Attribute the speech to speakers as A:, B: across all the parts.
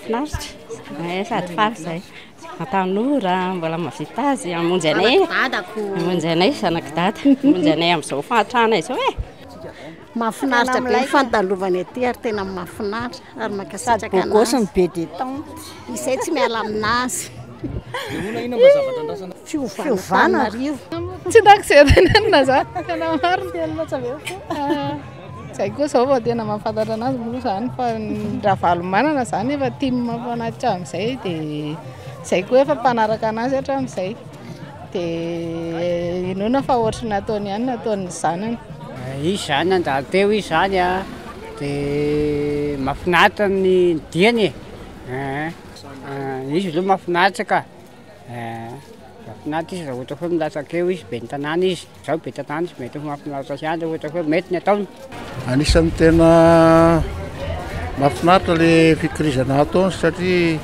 A: Finaritra eh, sady faly izay. Ny tanora mbola mahavita azy hamonjy anay, hamonjy anay zanak'i dada, hamonjy anay amin'izao fahantrana izao eh. Mahafinaritra
B: be ny fandalovana ety ary tena mahafinaritra ary mankasitraka anazy. Bogosy ny be de temps. Izay tsy miala aminazy. Ina ina mba zavatra andrasana? Fiovana. Tsy takizerana
C: na za. Tena marina tena tsavela. Izay koa izao vao tena mahafantatra anazy moa izany fa ny Ravalomanana izany efa tim foana hatramin'izay dia izay koa efa mpanaraka anazy hatramin'izay dia inoana fa ohatry ny nataony ihany no ataon'ny zanany. Izy izany
D: nandalo teo izy izany dia mahafinaritra ny diany e, izy aloha mahafinaritra ka, mahafinaritra izy raha ohatra foana milatsaka eo izy, ben'ny tanàna izy. Izaho be tantana izy, mety ho mahafinaritra ahy ilay ohatra hoe mety ny ataony. Anisan'ny tena
E: mahafinaritra le fikirizana ataony satria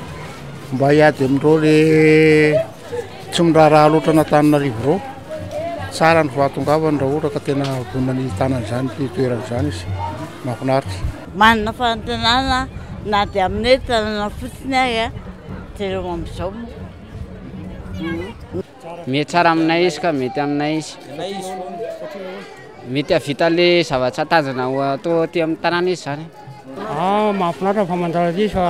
E: mba hiady amin'ireo le tsy miraharaha loatra an'Antananarivo ireo. Tsara ny fahatongavany raha ohatra ka tena vonona ny tanana izany ity toerana izany izy. Mahafinaritra. Manana
F: fanantenana na dia amin'ny hoe tanana fotsiny ary dia amin'izao moa.
D: Mety tsara aminay izy ka mety aminay izy. Mety hahavita le zavatra tanjona ho atao aty amin'ny tanàna izy zany. Ah, mahafinaritra
G: ny famantarana aty fa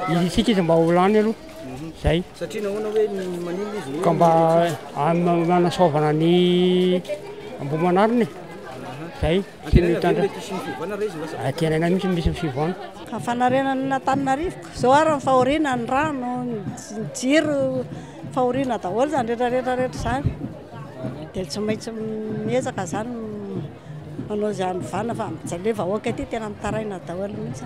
G: hirintsika izy mba ho lany aloha. Zay. Satria
H: nahoana hoe maninona
G: izy hoe. Ka mba hanasoavana ny Ambohimanarina e. Zay. Tsy mitandrina. Antenaina mihitsy ny misy ny fivoahana. Ka fanarenan'Antananarivo.
B: Izao ary ny fahoriana, ny rano, ny jiro, fahoriana daholo izany rehetra rehetra rehetra izany. Dia tsy maintsy miezaka izany manao izay hanovana fa mijery ilay vahoaka ity tena mitaraina daholo mihitsy.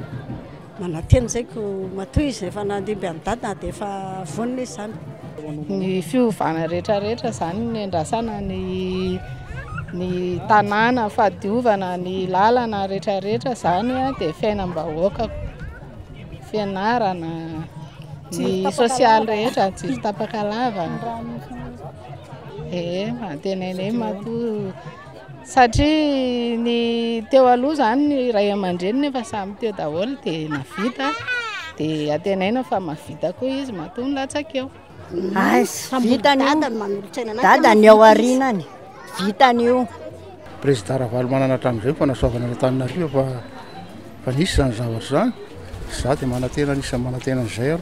B: Manantena izay ko matoa izy rehefa nandimby an'i dada na dia efa vonona izy izany. Ny
C: fiovana rehetra rehetra izany ny andrasana ny ny tanàna fahadiovana ny lalana rehetra rehetra izany dia fiainam-bahoaka fianarana ny sosialy rehetra jiro tapaka lava ee manantena anie matoa Satria ny teo aloha izany ny ray aman-dreniny efa samy teo daholo dia nahavita dia antenaina fa mahavita koa izy matoa nilatsaka eo. Aizy, vitany
B: io. Dada ny ao arinany, vitany io. Président
E: Ravalomanana hatramin'izay ny fanasoavana an'i Antananarivo fa fa nisy izany zavatra izany. Izaho dia manantena anisan'ny manantena an'izay aho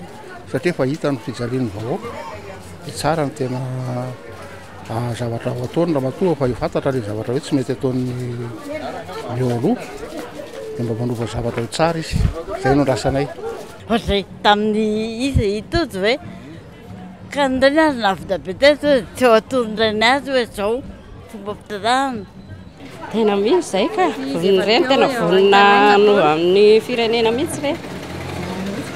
E: satria efa hita ny fijalian'ny vahoaka. Dia tsara ny tena zavatra ho ataony ramatoa fa fantatra le zavatra hoe tsy mety ataon'ny eo aloha de mba manova zavatra ho tsara izy zay no andrasanay ohatr'izay
F: tamin'ny izy itojo hoe ka ny reny azy navita be tety hoe tsy eo atony reny azy hoe zao fomba fitanana tena
A: mino zay ka voniny reny tena vonina anova amin'ny firenena mihitsy reny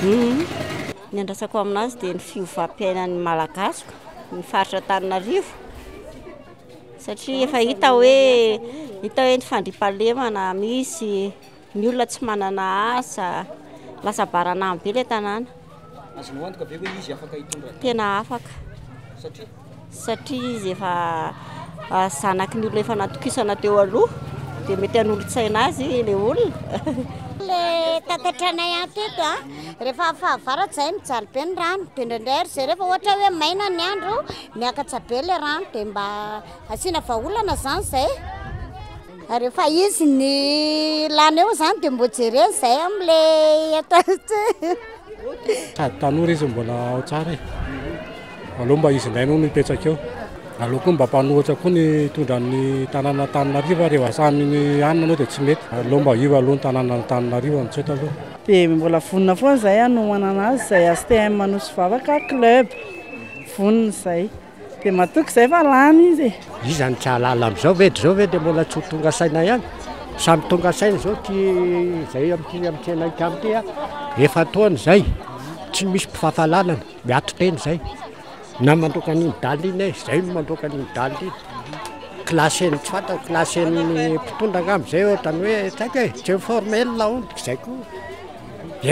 A: mhm.
B: Ny andrasako aminazy dia ny fiovam-piainan'ny Malagasy, ny faritra Antananarivo, satria efa hita hoe, hita hoe ny fandriampahalemana misy, ny olona tsy manana asa, lasa baranaham-be ilay tanàna. Azonao antoka
H: ve hoe izy afaka hitondra ny. Tena afaka.
B: Satria? satria izy efa zanaky ny olona efa natokisana teo aloha dia mety hanolotsaina azy le olona le tatatra anay an teto a rehefa fahavaratra zay mijaly be ny rano de ndraindray ary zay rehefa ohatra hoe maina ny andro miakatsa be le rano de mba asiana vahaolana zany zay Ary efa izy ny lany eo zany de mbo jereny zay am le atao ity.
G: Sady tanora izy mbola ao tsara e. Aleo mba izy indray no mipetraka eo. Aleo koa mba mpanohatra koa ny hitondra ny tanàna Antananarivo ary rehefa samy ny hanina anao dia tsy mety. Aleo mba io aloha ny tanàna Antananarivo amin'izao taloha. Dia mbola vonona
I: foana izahay hanomanana azy izay HTM Anosy Vavaka Club. Vonona izay. Dia matoky izay fa lany izy e. Iza no tsy hahalala
J: amin'izao ve? Dia izao ve dia mbola tsy ho tonga saina ihany? Samy tonga saina izao ity izay amin'ity amin'ity anay tany ity a! Efa-taona izay, tsy misy mpifafalalana, miato tena izay. Na mandroaka an'iny dalle iny e, izay no mandroaka an'iny dalle iny. Classen'ny tsy fantako, classen'ny mpitondra angamba izay ohatra ny hoe tsy haiko e, tsy informé ny laoniny, izay koa.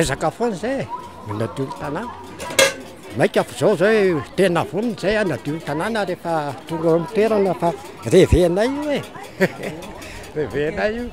J: Ezaka foana izay e, manadio ny tanàna. Maika avy zao zao e, tena vonona zay hanadio ny tanàna rehefa tonga eo amin'ny toerana fa reve-nay io e, reve-nay io.